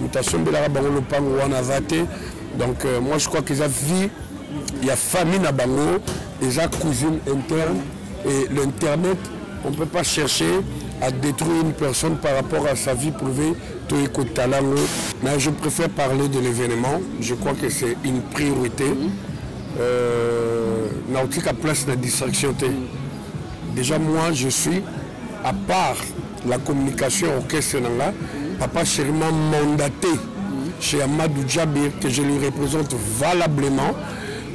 moto asombelaka bango lopango wana aza te donc euh, moi je crois que eza vie ya famille na bango eza cousine interne et l'internet on peut pas chercher à détruire une personne par rapport à sa vie privée toye kotala yango mais je préfère parler de l'événement je crois que c'est une priorité euh, naotika place na distraction te déjà moi je suis à part la communication ya orchestre na nga papa chéri m'a mandaté chez amadou jabir que je lui représente valablement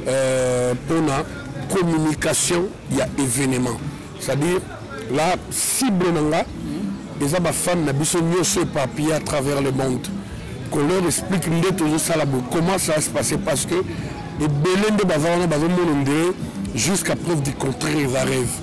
euh, mpona communication ya événement c'est à dire la cible na nga eza bafane na biso nyonso éparpillé à travers le monde qu'on leur explique nde tozosala boye comment ça va se passer parce que ebele nde baza wana bazomona ndee jusqu'à preuve du contraire eza rêve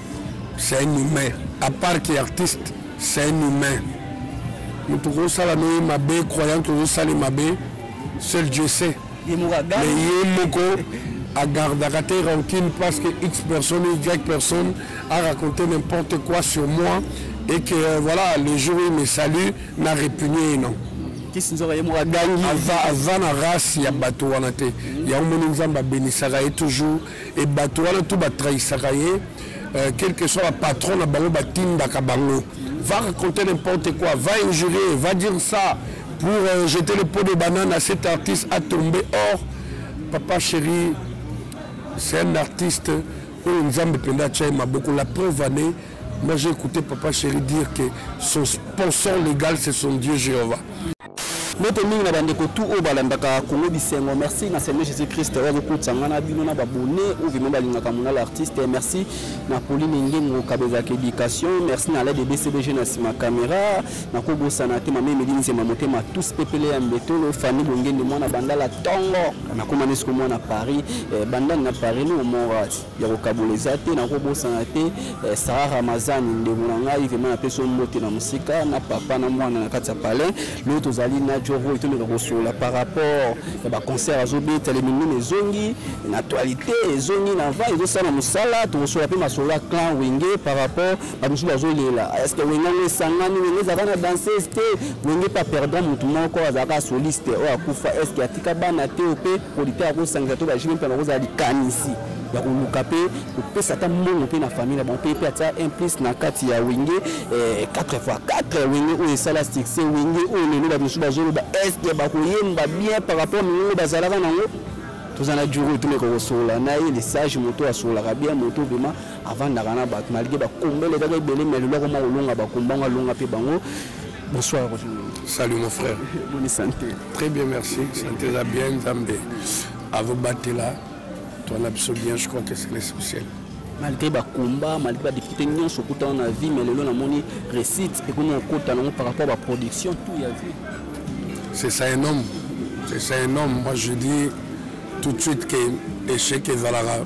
c'est un humain à part que artiste c'est un humain moto kosala no ye mabe croyant tozosali mabe seul dieu sait mais ye moko agardaka te rancune parce que x personne ou y personne a raconté n'importe quoi sur moi et que euh, voilà le jour où il me salue na répugne ye non kisi nzoka ye moko agangi aza na race ya bato wana te yango moni nzambe abenisaka ye toujours et bato wana tout ba trahisaka ye euh, quel que soit ba patron na bango batindaka bango va raconter n'importe quoi va injurier va dire ça pour euh, jeter le pot de banane à cet artiste a tombé or papa chéri c'est un artiste oyo nzambe mpenza atya ye maboko la preuve année moi j'ai écouté papa chéri dire que son sponsor légal c'est son dieu jéhovah mbote mingi na bandeko tu oyo balandaka kongo bisengo merci na seigneur jésus christ oyo azokutisa ngai na bino na babone oyo vraimen balingaka monala artiste merci na pauline ngengo kabezaka éducation merci na lade bcbg na nsima caméra nakobosana te mama emeli nzema motema tous pepele ya mbetolo fani bongende mwana bandala ntongo nakoma nesiko mwana paris eh, bandani na paris no omorati ya kokabola eza te nakobosana te eh, sara ramazani ndeko na ngai vraimen napesi ombote na mosika na papa na mwana na kati ya palin lelo tozali na joroy tomeka kosolola par rapport ya baconcert azobeta lemingine ezongi na actualité ezongi na va ezosala na mosala tokosolola mpe masolo ya clan wenge par rapport bamosusu bazolela eske wenge yango esangani wenge ezalaka na danseuse te wenge mpe aperdant motu moko azalaka soliste oyo akufa eske atika bana te mpe producteur akosangisa to bajime mpe nakozala likanisi ya koluka mpe kopesa ata mbongo mpe na famille na bango mpe mpe atia un plus na kati ya wenge 4 eh, fois 4 wenge oyo esala succès wenge oyo lelo bato mosusu bazoloba eske bakoyemba bien par rapport mingongo bazalaka nango toza na juro etumeka kosola na ye lesage moto asolaka bien moto vraimen avandaka na bato malgré bakombele kaka ebele mais lelo akoma kolonga bakomba yango alonga mpe bango bonsoir salut mon frère boni santé très bien merci santé eza bien nzambe azobatela toi na biso bien je crois que c'est l'essentiel malgré bacombat malgré badifficulté nyonso okutana na vie mais lelo namoni récite ekomi okota nango par rapport baproduction tout ya vie c'est ça un homme c'est ça un homme moi je dis tout de suite que échec ezalaka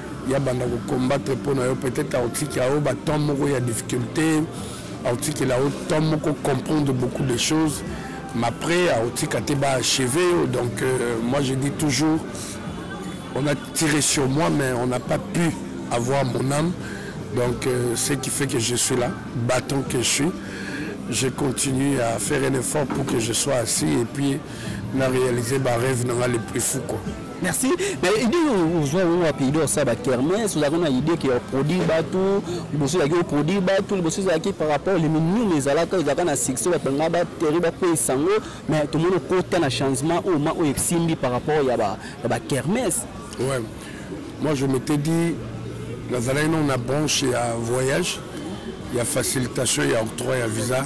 ya banda ko combattre mpo na yo peut-être akotikela yo ba temps moko ya difficulté akotikela yo temps moko comprendre beaucoup de choses mais après akotika te ba achever yo donc euh, moi je dis toujours on a tiré sur moi mais on n'a pas pu avoir mon âme donc euh, ce qui fait que je suis là battant que je suis je continue à faire un effort pour que je sois assis et puis na réaliser ba rêve na nga le plus fou quoi Merci. Mais idée ozwa yango wapi idée osala bakermese ozalaki na idée ke oproduit bato liboso ezalaki oproduit bato liboso ezalaki par rapport elimi nini ezalaka ezalaka na succès bato banga bateri bakweyisa yango mais tomoni okota na changement oyo ma oyo esimbi par rapport ya bakermese ouais. moi je m'étais dit nazalaki nano na branche ya voyage ya facilitation ya octroi ya visa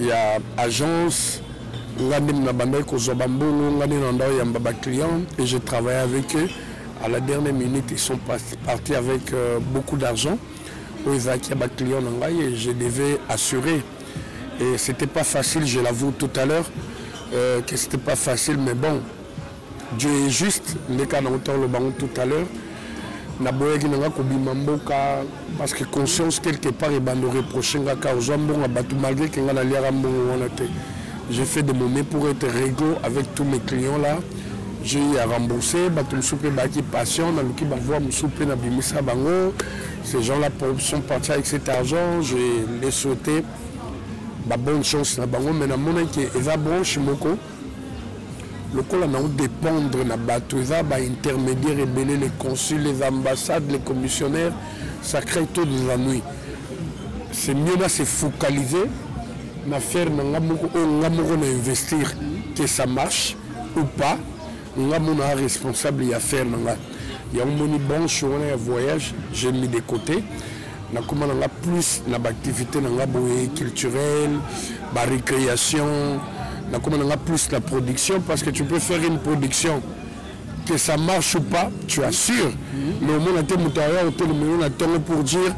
ya agence nga nde nabandaki kozwa bambongo nga nde nanda oyamba baclient et je travaille avec eux à la dernière minute ils sont partis avec euh, beaucoup d'argent oyo ezalaki ya baclient na ngai et je devais assurer et c'était pas facile je l'avoue tout à l'heure euh, que c'était pas facile mais bon Dieu est juste, ndeka na autant le bango tout à l'heure. Na boyaki nanga kobima mboka parce que conscience quelque part et bando reprocher nga ka ozwa mbongo ya bato malgré que nga na liaka mbongo wana te. J'ai fait de mon mieux pour être réglo avec tous mes clients là. J'ai eu à rembourser, bato mosusu mpe bayaki patient, naluki bavoi mosusu mpe nabimisa bango. Ces gens là sont partis avec cet argent, je les souhaitais ba bonne chance na bango mais namonaki eza branche moko lokola na dépendre na bato eza ba intermédiaire ebele les consuls les ambassades les commissionnaires ça crée trop des ennuis c'est mieux na se focaliser na faire na nga moko oyo nga moko na investir que ça marche ou pas nga mona responsable ya faire na nga yango moni branche wana ya voyage j'ai mis de côté nakoma na nga plus na baactivité na nga boye culturelle barécréation nakoma na nga plus na production parce que tu peux faire une production que ça marche ou pas tu assures mais omona te moto aya otelemelo na ntongo pour dire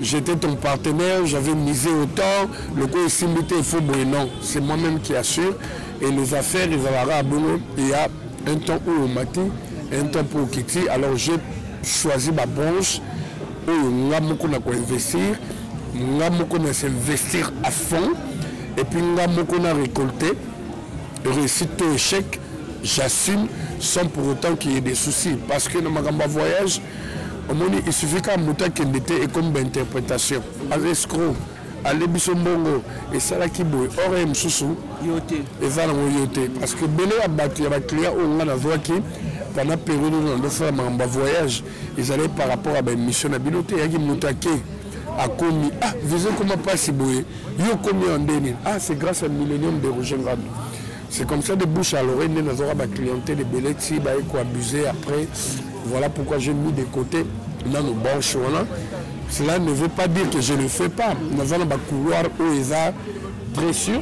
j'étais ton partenaire j'avais misé autant lokola esimbi te efo boye non c'est moi même qui assure et les affaires ezalaka bongo il y a un temps où omati un temps mpo okiti alors j'ai choisi babranche oyo nga moko na ko investir nga moko na s'investir à fond et puis nga moko na récolter réussite to échec j'assume sans pour autant qu'il y ait des soucis parce que na makambo ya voyage omoni il suffit kaka moto akende te ekomi bainterprétation aza escro ale biso mbongo esalaki boye ore mosusu eza nango yo te parce que bele ya bato ya baclient oyo ngai nazwaki pendant periode oyo nandosala makambo ya voyage ezalaki par rapport ya baémission na bino te eyaki moto ake akomi ah visa ekoma mpasi boye yo okomi ya ndeni ah c'est grâce à millénium de roger ngambi c'est comme ça de bouche à l'oreille nde nazwaka baclientèle ebele ti baye koabuse après voilà pourquoi j'ai mis de côté nano branche wana cela ne veut pas dire que je ne fais pas naza na bacouloir oyo eza très sûr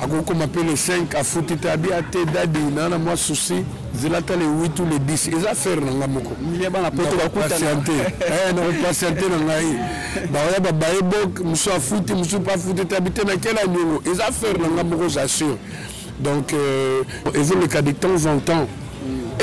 akokoma mpe le 5 afuti te abi ate dadi na na mwa souci zela ata le 8 ou le 10 eza affaire na ngai moko patiente eh, nakopatiente na ngai baoya babaye bok mosu afuti mosu mpe afuti te abi te na kela niongo eza affaire na ngai moko j'assure donc euh, ezoleka de temps en temps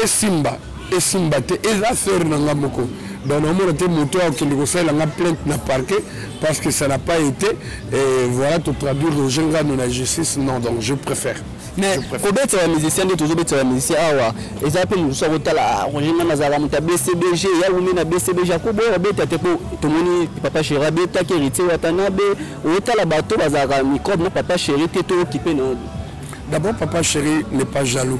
esimba esimba te eza sœur na nga moko donc naomona te moto oyo akende kosalela nga plainte na parquet parce que ça n'a pas été et voilà totraduire roger ngano na justice non donc je préfère mais kobetisa ya musicien nde tozobetisa ya musicien awa eza mpe mosusu akotala ah, roger ngano azalaka moto ya bcbg ya wumi na bcbg akoboya kobeta te mpo tomoni papa chéri abetaki héritier watanabe otala bato bazalaka microbe na papa chéri te tookipe na d'abord papa chéri n'est pas jaloux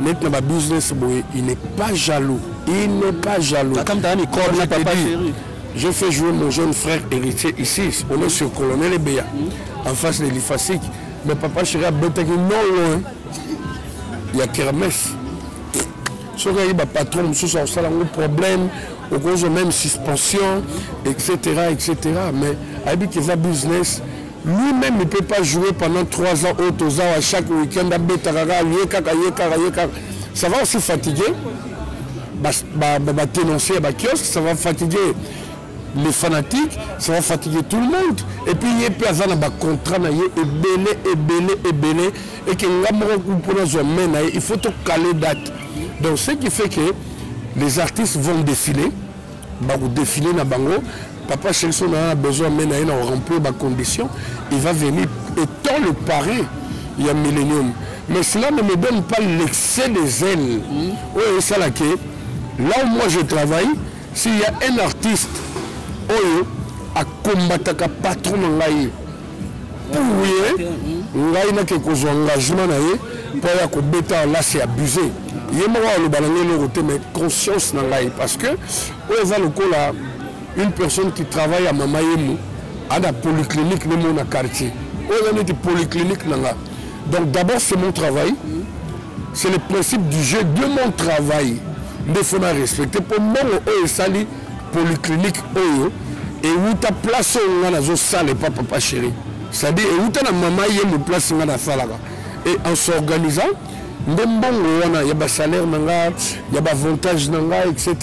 neti na babusiness boye il n'est pas jaloux il n'est pas jaloux je fais jouer mon jeune frère héritier ici on est sur colonel ebeya en face de l'ifasique mais papa chéri abetaki non loin ya kermes soki ayebi bapatron mosusu akosala yango problème okozwa même suspension etc etc mais ayebi keza business Lui meme il peut pas jouer pendant 3 ans oyo toza wa chaque week-end abetaka kaka ye kaka ye kaka ye kaka ça va aussi fatiguer batenonce ya bakiosque ça va fatiguer les fanatiques ça va fatiguer tout le monde et puis ye mpe aza na bacontrat na ye ebele ebele ebele eke nga moko mpo nazwa mai na ye il faut tokale date donc ce qui fait que les artistes vont défiler bako défiler na bango papa chelson na a besoin mais na ye na remplir ba conditions il va venir étant le parrain ya millénium mais cela ne me donne pas l'excès des ailes hmm. oyo esala ke là où moi je travaille s'il y a un artiste oyo akombataka patron na ngai ye ngai nake kozwa engagement na ye mpo ya kobeta lasi ya abuse ye moko aloba na ngai eloko te mais conscience na ngai parce que oyo eza lokola une personne qui travaille ya mama yemu ana polyclinique ne mona quartier oyo eza neti polyclinique na nga donc d'abord c'est mon travail c'est le principe du jeu de mon travail nde fona respecte mpo mbongo oyo esali polyclinique oyo ewuta place oyo ngai nazosala epa papa chéri c'est-à-dire ewuta na mama ye mo place ngai nasalaka et en s'organisant nde mbongo wana ya basalaire na ngai ya baavantage na ngai etc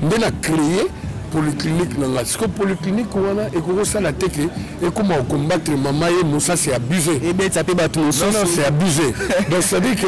nde na créer polyclinique na ngai sikoyo polyclinique wana ekoki osala te ke ekoma okombattre mama ye mosa se abuse ebetisa mpe bato mosusu se abuse donc c'est-à-dire que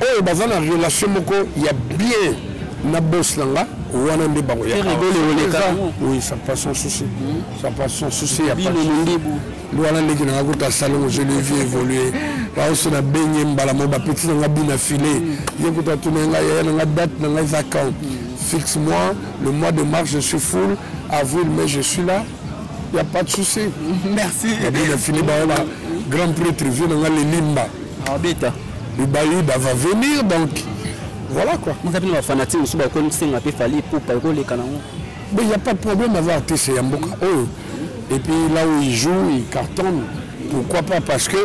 oyo baza na relation moko ya bien na boss na nga wana nde bango ya oui ça passe sans souci ça passe sans souci ya pas wana ndenge na nga kota salongo je le vie évoluer baoso na benye mbala mo bapeti na nga bi na filet ye kutu atuna nga yaya na nga date na nga eza quand fixe moi le mois de mars je suis full avril mai je suis là il n'y a pas de souci. Merci. Bah, grand prêtre, vieux, dans les limbas. Arbita. Le Bayuda va venir donc voilà quoi. Moi kapina ba fanatique musuba ko nsenga pe fali pupa ko leka nango. Mais il y a pas de problème à voir tese ya mboka oyo. Et puis là où il joue, il cartonne. Pourquoi pas Parce que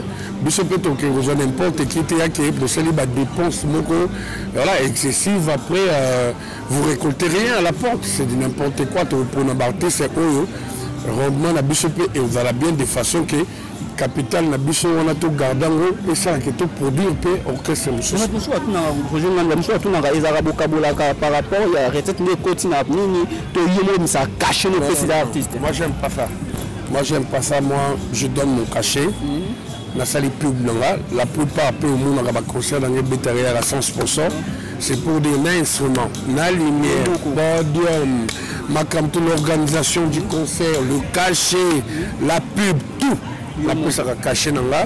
biso peut toke kozwa n'importe qui te yake bosali ba dépense moko voilà excessive après euh, vous récoltez rien à la porte, c'est du n'importe quoi to pona ba tese oyo rendement na biso pe et vous allez bien de façon que capital na biso wana togarda yango mpe esalaka to produire mpe orchestre mosusu mosusu atunaka projet nganda mosusu atunaka ezalaka bokabolaka par rapport ya recette nde ekoti na nini to yo moyebisa cachet no opesi na artiste moi j'aime pas ça moi j'aime pas ça moi je donne mon cachet mhm. nasali pub na nga la plupart mpe omonaka baconcert na nga ebetaka yaka 100 sponsor c'est pour dire na instrument na lumière podium makambo l'organisation du concert le cachet la pub tout napesaka cachet na nga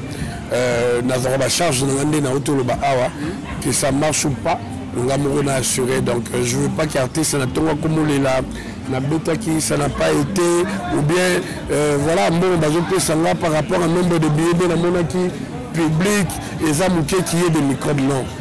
euh, nazwaka bacharge na nga nde na otoloba awa que ça marche ou pas nga moko na assuré donc euh, je veux pas qu'artiste na ntongo akomolela nabetaki ça n'a pas été ou bien euh, voilà mbongo bazopesa nga par rapport à nombre de billets nde namonaki public eza moke kiye de microbe non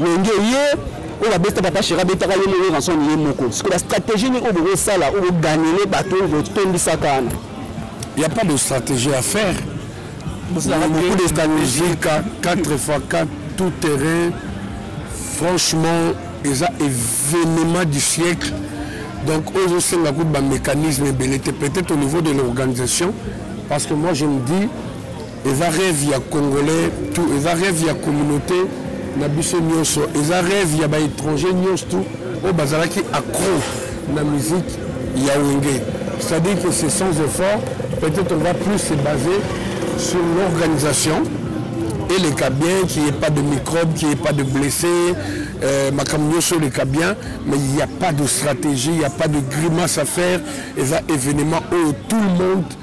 Wenge ye oyo babeta papa shera abetaka ye moko ranson ye moko sikoyo bastratégie nini oyo bokosala oyo boganele bato oyo botondisaka wana ya pas de stratégie à faire beaucoup de stratégie 4 fois 4 tout terrain franchement eza événement du siècle donc oyo osenga kutu bamécanisme ebele te peut-être au niveau de l'organisation parce que moi je me dis eza rêve ya congolais tout eza rêve ya communauté na biso nyonso eza rêve ya baétranger nyonso tout oyo bazalaki accro na musique ya wenge c'est-à-dire que c'est sans effort peut-être on va plus se baser sur l'organisation et les cas bien qu'il n'y ait pas de microbes qu'il n'y ait pas de blessés euh, makambo nyonso oleka bien mais il n'y a pas de stratégie il n'y a pas de grimace à faire eza événement oyo tout le monde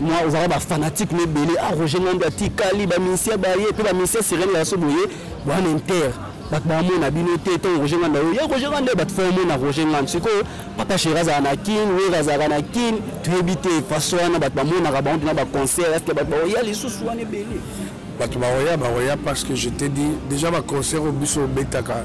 moi ozalaka bafanatique na ebele a ah, roger ngambi atikali bamisie baye mpe bamisie sirene ya so boye bwana inter bato bamona bino te ntango roger ngambi ayo ya roger ngambi bato fo omona roger ngambi sikoyo papa sheri azalaka na kin wer azalaka na kin toyebi te faso wana bato bamonaka bango mpena baconcert eske bato baoya lisusu wana ebele bato baoya baoya parce que je te dis déjà baconcert oyo biso obetaka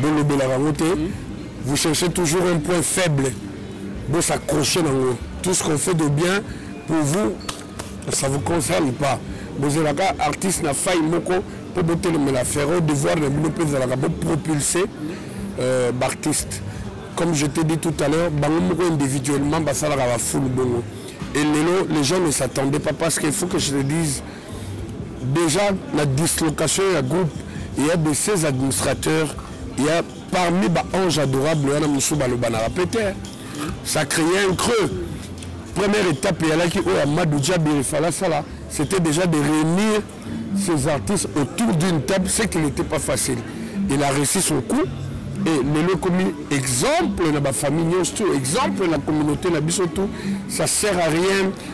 bolobelaka yango te vous cherchez toujours un point faible bosaccroche nango tout ce qu'on fait de bien pour vous ça vous concerne pas bozelaka artiste na faille moko mpo botelemela ferro devoir na bino mpe ezalaka bopropulse euh, baartiste comme je t'ai dit tout à l'heure bango moko individuellement basalaka bafulu bongo et lelo les gens ne s'attendaient pas parce qu'il faut que je te dise Dejà na dislocation ya groupe il y a de ces administrateurs il y a parmi ba anges adorables wana mosusu balobanaka mpe te ça créait un creux première étape eyalaki oyo ya madu diabi efala asala c'était déjà de réunir ces artistes autour d'une table ce qui n'était pas facile il a réussi son coup et lelo ekomi exemple na bafamille nyonso to exemple na communauté na biso tout ça sert à rien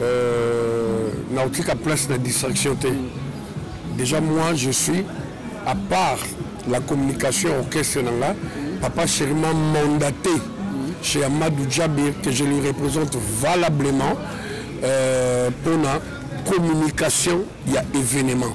Euh, nakotika place na distraction te déjà moi je suis à part la communication orchestre na nga papa chéri m'a mandaté chez amadou djabir que je lui représente valablement euh, mpona communication ya événement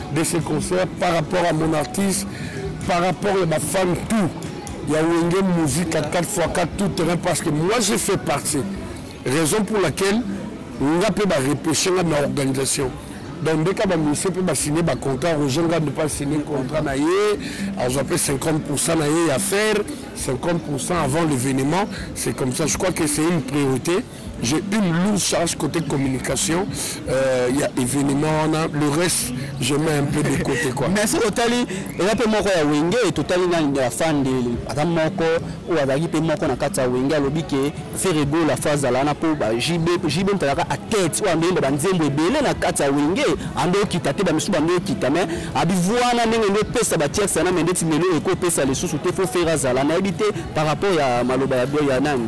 de ce concert par rapport à mon artiste par rapport à ma femme tout il y a Wenge musique à 4x4 tout terrain parce que moi j'ai fait partie raison pour laquelle nga mpe barepeshe nga na organisation donc ndeka bamisie mpe basigne bacontrat roger nga nde mpe asigne contrat na ye azwa mpe 50 pourcent na ye ya faire 50 pourcent avant l'événement c'est comme ça je crois que c'est une priorité J'ai une lourde charge côté communication. Il euh, y a événement, on a le reste, je mets un peu de côté. Quoi. Mais si totali, il y a peu moko ya wenge, totali na ya fan de adam moko ou azaki pe moko na kati ya wenge alobi ke Ferrego la phase la na po ba JB JB mtalaka à tête ou ambe ba nzembo ebele na kati ya wenge ando kita te ba misu ba ndo kita mais abi voix na ndenge ndo pesa ba tierce na mende ti melo eko pesa les sous te faut faire zala na ebite par rapport ya maloba ya ya nani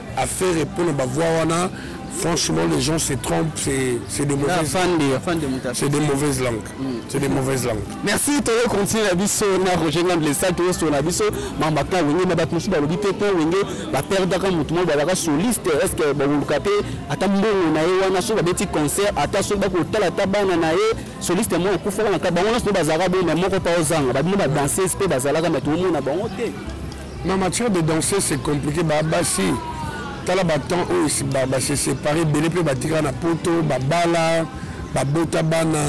affaire epona bavoi wana franchement les gens se trompent c'est de mauvaises c'est de mauvaises langues mm. c'est de mauvaises langues merci toyo continue na biso na roger ngambe le sat oyo na biso mamba ka wenge na bato mosusu balobi te mpo wenge baperdaka motu moko bazalaka soliste est ce que bakoluka mpe ata mbongo na ye wana soki babeti concert ata soki bakotala ata bana na ye soliste moko akufaka na ka bango nyonso mpe bazalaka boye me moko mpa ozanga babino badanseuse mpe bazalaka me toomona bango te Na matière de danser c'est compliqué ba basi tala ba temps oyo ba, ba se séparer belé pe batika na poto ba bala ba bota bana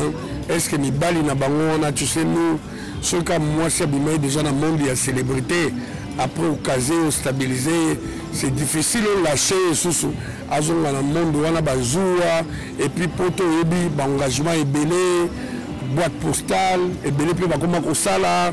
est-ce que mibali na bango wana tu sais nous soki ka mwasi abimai déjà na monde ya célébrité après okase ostabilise ye c'est difficile olâche ye susu azonga na monde wana bazuwa epuis poto oyebi baengagement ebele boîte postale ebele mpe bakoma kosala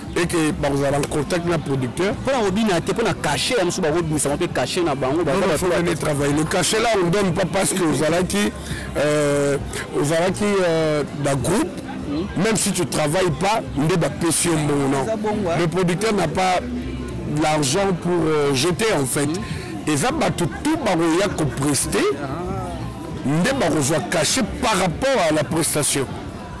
et que bakozala en contact na producteur mpo na kobina te mpo na cachet ya mosusu bakobimisama mpe cachet na bango bazobafolane travail le cachet là on donne pas parce que ozalaki euh, ozalaki euh, na groupe hmm. même si tu travailles pas nde bapesi yo mbongo non hein. le producteur n'a pas l'argent pour euh, jeter en fait hmm. eza bato tout bakoya kopreste ah. nde bakozwa cachet par rapport à la prestation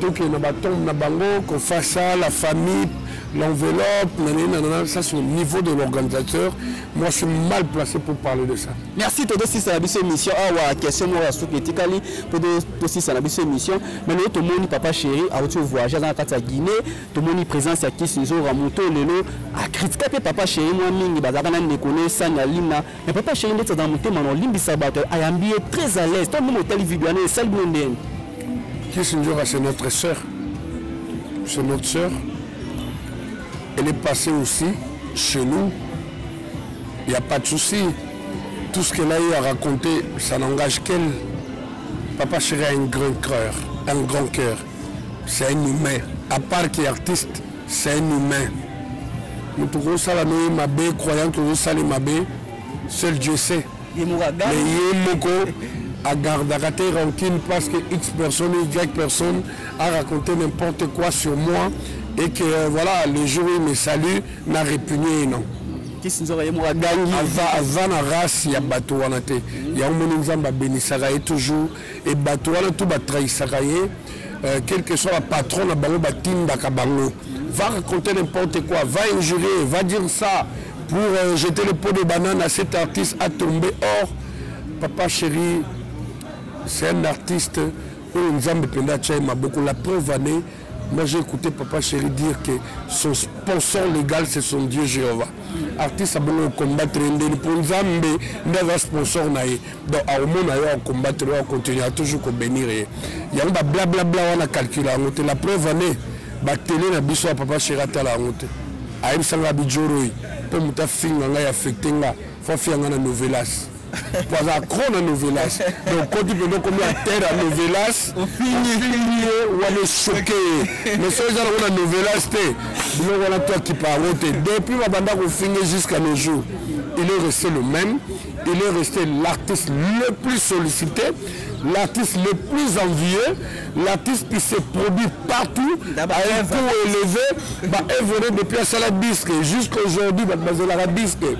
toke na batombe na bango kofasa la famille l'enveloppe nanenanana ça c'est au niveau de l'organisateur moi je suis mal placé pour parler de ça merci todo sisa na biso émission awa question moko ya suki etikali mpo tosisa na biso émission mais lelo tomoni papa chéri auti voyage aza na kati ya guinée tomoni présence ya kisi nzora moto lelo akritika mpe papa chéri mwa mingi bazalaka na ndeko ne sani alina Mais papa chéri ndeti azala motema na olimbisa bato ayambi ye très à l'aise to mimi otali video wana esali bino ndeni kisi njoka c'est notre sœur c'est notre sœur elle est passée aussi chez nous il n'y a pas de souci tout ce qu'elle a eu à raconter ça n'engage qu'elle papa chéri a un grand cœur un grand cœur c'est un humain à part qu'il est artiste c'est un humain moto okosala noye mabe croyant que ozosali mabe seul dieu sait mais ye moko agardaka te rancune parce que x personne y personne a raconté n'importe quoi sur moi et que euh, voilà le jour où il me salue na répugne ye non aza na race ya bato wana te yango moni nzambe abenisaka ye toujours et bato wana tout ba trahisaka ye euh, quel que soit ba patron na bango batindaka bango va raconter n'importe quoi va injurier va dire ça pour euh, jeter le pot de banane à cet artiste a tombé or papa chéri c'est un artiste oyo nzambe mpenza atya ye maboko la preuve année Moi j'ai écouté Papa Chéri dire que son sponsor légal c'est son Dieu Jéhovah. Artiste a besoin de combattre Ndeli pour Nzambe, Ndava sponsor na ye. Donc à moment na yo à combattre, à continuer à toujours ko bénir ye. Ya ba bla bla bla wana calculer en la preuve année ba télé na biso Papa Chéri atala en route. Ayebisa nga bijoroi mpo moto afinga ngai affecte nga fo afinga nga na novelas baza cro na novelas donc koti mpenza okomi ya terre ya novelas ofingi ye wana esoke ye mais soki eza nango na novelas te biloko wana to akipa yango te depuis babanda kofinge jusqu'à nos jours il est resté le même il est resté l'artiste le plus sollicité l'artiste le plus envieux, l'artiste qui se produit partout, à un coût élevé, bah, évolué depuis un salaire disque jusqu'à aujourd'hui, bah, bah, la disque.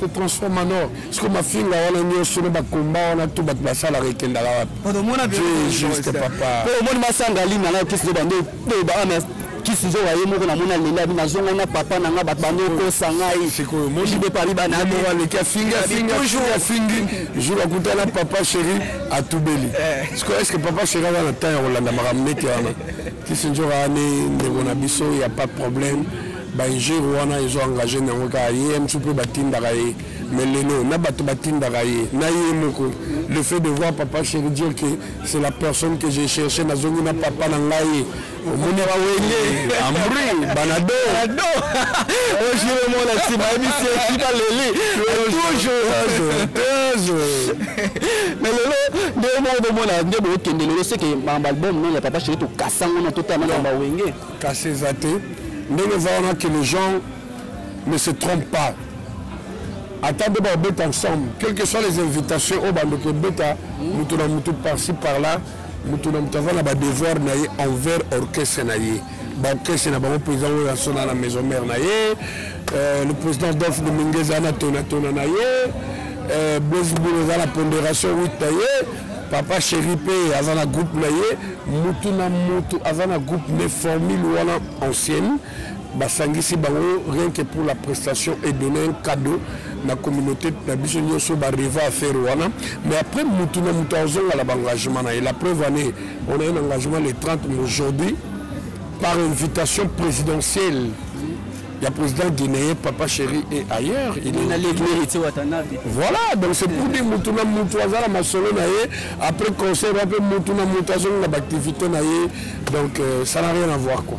se transforma no siko mafinga wana nyonso na bakomba wana to bato basalaka ekendaka wapi juste papa po omoni masanga lina nayo kisi zoba nde beba wana kisi zoba ye moko namoni alela bi nazonga na papa na ngai bato bando okosa ngai sikoyomoibepali banaaleki afingiafingi jour akuta na papa chéri atubeli eh. siko estce papa chéri aza na temps ya kolanda makambo nete wana Kisindjora ne ndeko na biso ya pas de problème ba injure wana ezo engage nango kaka ye msu mpe batindaka ye mais lelo na bato batindaka ye na ye moko le fait de voir papa chéri dire que c'est la personne que j'ai cherché nazongi na papa na ngai omoni bawenge amri banado ojire mona nsima yebisi ekiba leli toujours mais lelo nde moko bomona nde bokende lelo seke baalbum nani ya papa chéri tokasa yango na totala na bawenge kasi eza te ndenge eza wana que les gens ne se trompe pas ata nde babeta ensemble quelque soit les invitations oyo bandoki ebeta moto na moto parci par là mm. moto na moto aza na badevoir na ye envers orchestre na ye baorchestre na bango mpenza oyo asona na maison mare na ye euh, le président dolphe domingue eza na tonatona na ye euh, bosbul eza na ponderation 8 na ye papa chéri mpe aza na groupe na ye motu na motu aza na groupe ne formule wana ancienne basangisi bango rien que pour la prestation et donner un cadeau na communauté na biso nyonso bareva affaire wana mais après mutu na mutu azonga na baengagement na ye la preuve année on a un engagement le 30 mais aujourd'hui par invitation présidentielle il y a président guinéen, papa chéri et ailleurs. Il est allé Voilà, donc c'est pour dire Moutouna Moutouazala Masolo après concert, après Moutouna Moutazon, l'activité Donc euh, ça n'a rien à voir quoi.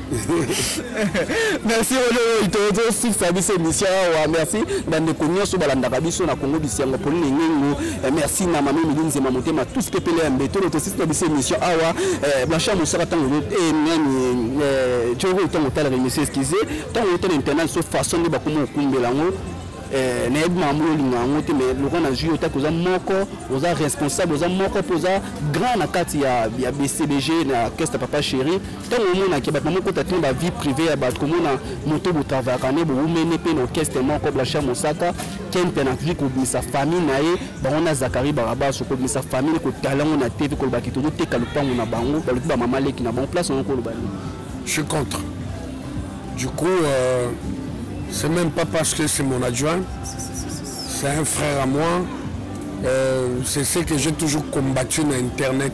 merci tozosikisa biso émission awa merci bandeko nyonso balandaka biso na kongo bisengo polina engengo eh, merci na mami mili nzema motema tous pepele ya mbetolo tosikisa biso émission awa eh, blanchard mosaka ntango eh, nani joro ntango otalaka émission eskise ntango otala internet so façon nde bakoma okumbela yango Eh, nayebi makambo olinga yango te mais lokola nazwi yo taki oza moko oza responsable oza moko mpo oza grand na kati ya, ya bcbg na keste papa chéri ntango omonake bato bamokota te ba vie privée ya bato komona moto botravayaka ne bowumene mpe na orchestre moko blanchard mosaka kempe na vie kobimisa famille na ye bango na zakari barabaso kobimisa famille kotala yango na tv koloba ke tozoteka lopango na bango balobi bamama leki na bango place yango koloba nini je suis contre du coup euh, c'est même pas parce que c'est mon adjoint c'est un frère à moi euh, c'est ce que j'ai toujours combattu na internet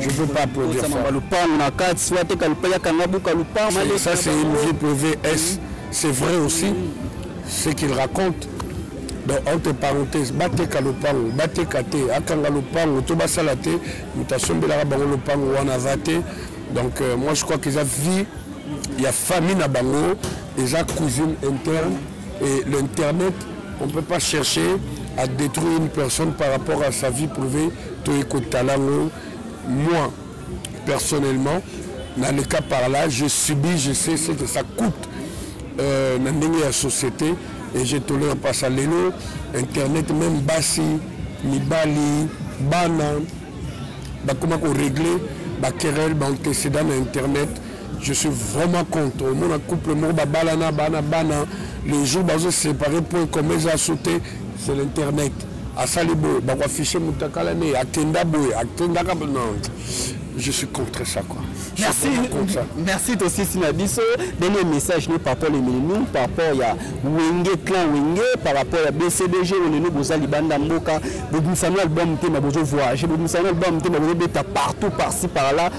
Je veux pas produire ça. Mamba lupangu na kati, soit te kalupa ya kanga buka lupangu. Ça c'est une vie privée. Est-ce c'est vrai aussi ce qu'il raconte? donc entre parenthèse bateka lopango bateka te akanga lopango to basala te moto asombelaka bango lopango wana aza te donc euh, moi je crois que eza vie ya famille na bango eza cousine interne et l'internet on peut pas chercher à détruire une personne par rapport à sa vie privée toye kotala yango moi personnellement na le cas par là je subis je sais ce que ça coûte euh, na ndenge ya société et je tolère pas ça lelo internet même basi mibali bana bakoma koregle baquerelle baantécédent na internet je suis vraiment contre omona couple moko babalana bana bana le jour bazo séparé point comme eza so te c'est l'internet asali boye bakoaffiche moto akala ne akenda boye akendaka non je suis contre ça quoi merci merci tosisi na biso dernier message ne par rapport emilinu par rapport ya wenge clan wenge par rapport ya bcdg oyo lelo boza libanda mboka bobimisana album te ma bozo voyage bobimisana album te ma bozobeta partout par ci par là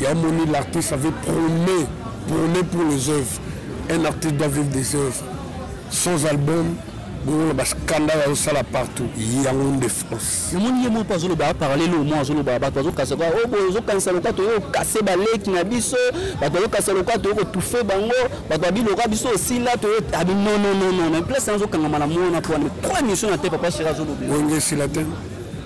Ya moni l'artiste avait promet, promet pour les œuvres. Un artiste doit vivre des œuvres. Sans album, bozoloba bascandale azosala partout yango nde france namoni ye moko azoloba aparale lo mo azoloba bato azokasa kwa oyo oh, ozokanisa loka toyo okase baleki na biso bato azokasa loka toyo kotufe bango bato abiloka biso osila toyo abi ah, nononono na place azokangama na mwana mpo wana trois mission na te papa shira azoloba wenge esila te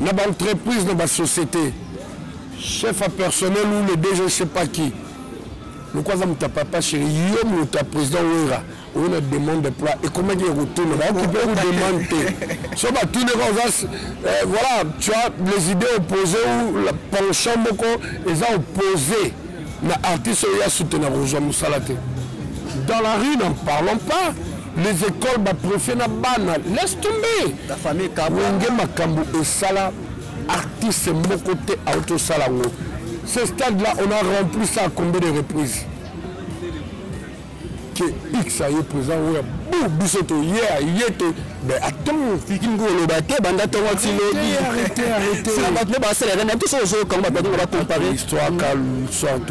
na ba entreprise na ba société chef ya personnel ou le dg sais pas qui lokola aza moto ya papa chéri yo moto ya président wera oyo na demande de plat ekomaki ya kotuna baokipe ko demande te so batuni ka oza eh, voilà tu as les idées opposé ou la penchant moko eza opposé na artiste oyo ya soutenir kozwa mosala te dans la rue n'en parlons pas les écoles ba préfet na bana laisse tomber la famille kabonge makambo esala artiste moko te aotosala yango ce stade là on a rempli ça à combien de reprises ke x aye président oyo bu biso toye aye te mais attends fiki ngo oloba te banda ntongo ti lobi bato nde basalaka na biso ozoyokango bato yango bacompare histoire kalsort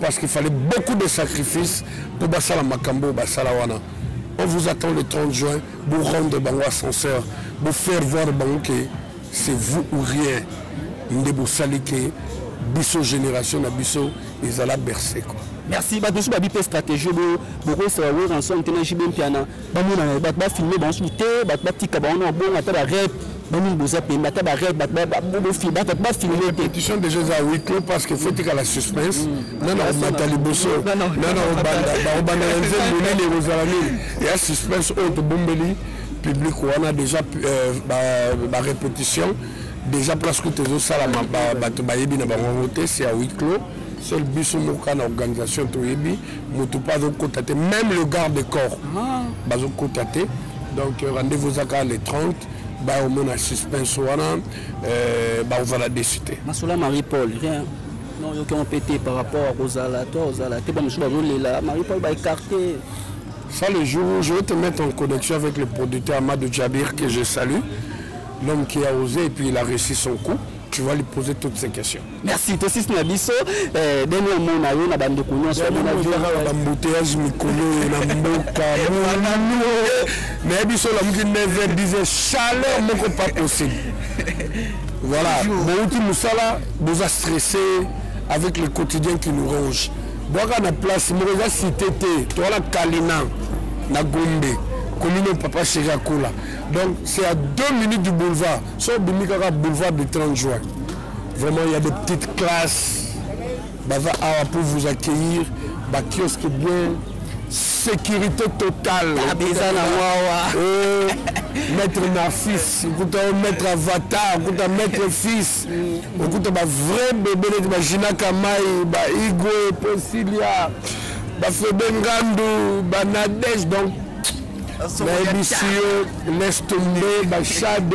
parce qu'il fallait beaucoup de sacrifices pour basala makambo basala wana on vous attend le 30 juin vous rendre bango ascenseur vous faire voir bango que c'est vous ou rien nde bosali ke biso génération na biso ezala berse quoi merci bato mosusu babi mpe stratégie bokoyesaka weranson te na jb mpiana bamona na bato bafilme bango suku te bato batika bango na bongo ata barep bamini boza pembe ata barep bato bafilme te pétition déjà eza wiklo parce que fotika la suspense mm. nana komata liboso nana kobanda na nzembo nini ekozala nini ya suspense oyo tobombeli public wana déjà barépétition euh, déjà presque tozosalama bato bayebi na bango yango te c'est ya wiklo seul biso moko na organisation toyebi moto mpe azokota te même le garde de corps ah. bazokota te donc euh, rendez-vous ezaka le 30 baomona suspense wana euh, bakozala desi te masola marie paul rien non yoki yango mpe te par rapport ya kozala to ozala te bamosusu bazolela marie paul baécarte ça le jour où je vais te mettre en connexion avec le producteur amadou djabir que je salue l'homme qui a osé et puis il a réussi son coup tu vas lui poser toutes ces questions merci tosisi na biso eh, deni omona yo na bandeko nyonso bambouteyage mikolo oyo na mboka molalo naye biso olamuki 9 10 chaleur moko pas possible voilà bouti mosala boza stressé avec le quotidien qui nous ronge bwaka na place moko eza cité te towana kalina na gombe commune papa chéri akola donc c'est à deux minutes du boulevard so obimi kaka boulevard du 30 juin Vraiment, il y a des petites classes. Baza awa pour vous accueillir. Ba kiosque bien. Sécurité totale. Abisa na wawa. Euh, maître Narcisse, okuta maître Avatar, okuta maître Fils, okuta ba vrai bébé neti ba Gina Kamai, ba Igwe, Posilia, ba Febe Ngandu, ba Nadège donc nayebisi yo laisse tomber ba Shade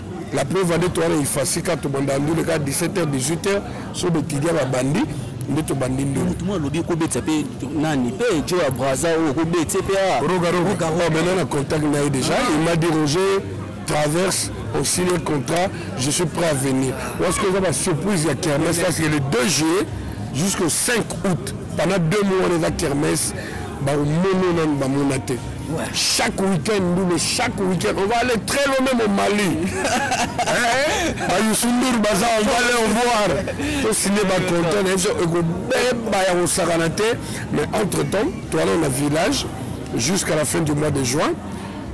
La preuve ande towana ifasi ka tobanda ndule ka 17h 18h so betidia babandi nde tobandi ndule. Moto mwa alobi ekobetisa mpe nani mpe jo ya braza oyo okobeti mpe a. Roga roga. Oh, maintenant na contact na ye déjà ah. il m'a dit Roger traverse on signe un contrat je suis prêt à venir. Lorsque eza ba surprise ya kermesse parce que le 2 juillet jusqu'au 5 août pendant deux mois wana eza kermesse bakomono nanu bamona te. Ouais. Chaque week-end, nous, chaque week-end, on va aller très loin même au Mali. bayusundur baza on va aller voir tosigne baconton na biso ekobeba ya kosakana te mais entre temps toala na village jusqu'à la fin du mois de juin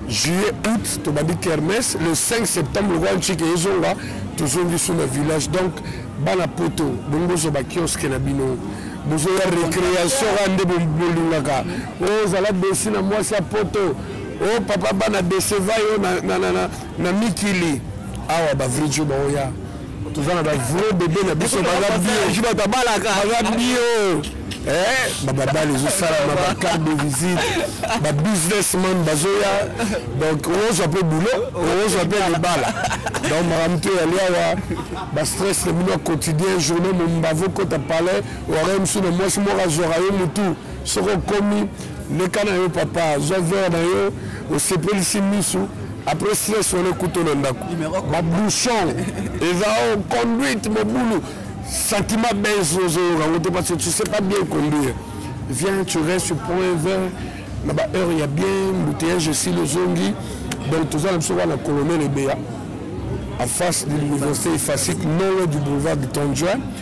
juillet août tobandi kermes le 5 septembre lokola ncike ezonga tozongi su na village donc bana poto bongo bozwa bakiosque na bino bozoya récréation kaka nde bolingaka Oh, zala desi na mwasi ya poto o oh, papa bana deseva yo na, na, na, na, na mikili awa bavrijo baoya toza na bavrai bebe na biso baza bio bato abalaka baza bio eh, bababali ezosalama bacarte de visite babusinessman bazoya donc ozwa mpe boulot ozwa mpe libala donc makambo to eyali awa bastress na bino ya quotidien journée mombavo kota palais oare mosusu na mwasi moko azwaka yo motu soki okomi leka na yo papa zwa vere na yo osepelisi misu après stress wana ekuta na ndako babouchon eza o conduite mobulu sentiment base ozoyoka yango te parce que tu sais pas bien conduire viens tu restes prends un verre na baheure ya bien mbouteillage esili ozongi donc toza na biso kaka na colonel ebeya en face de l'université efasique non loin du boulevard de tondjoin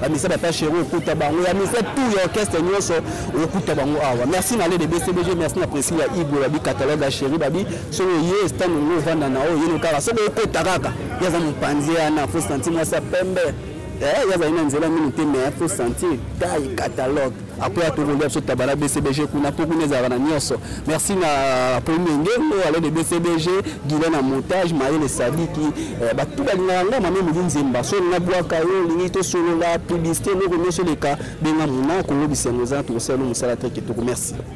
bamisa papa shero okuta bango ya misa tour ya orchestre nyonso okuta bango awa merci na lede bcbg merci na presi ya igwe babi catalogue ya sheri babi soki oye stande ngo ovanda na oyo yino kaka soki okota kaka ye aza mopanzi yana fo santi mwasi ya pembe eh, ye azali na nzela mingi te mais fo santi tai catalogue après atokolia biso taba na bcbg kuna mpo kuna ezalaka na nyonso merci na premier ngengo ale de bcbg gile na montage mayele sadiki eh, bato balingaka nga mame moli nzemba soni nabwaka yo olingi tosolola publicité eloko nyonso eleka benga mona kolobisa yango eza na tokosala no mosala te kitoko merci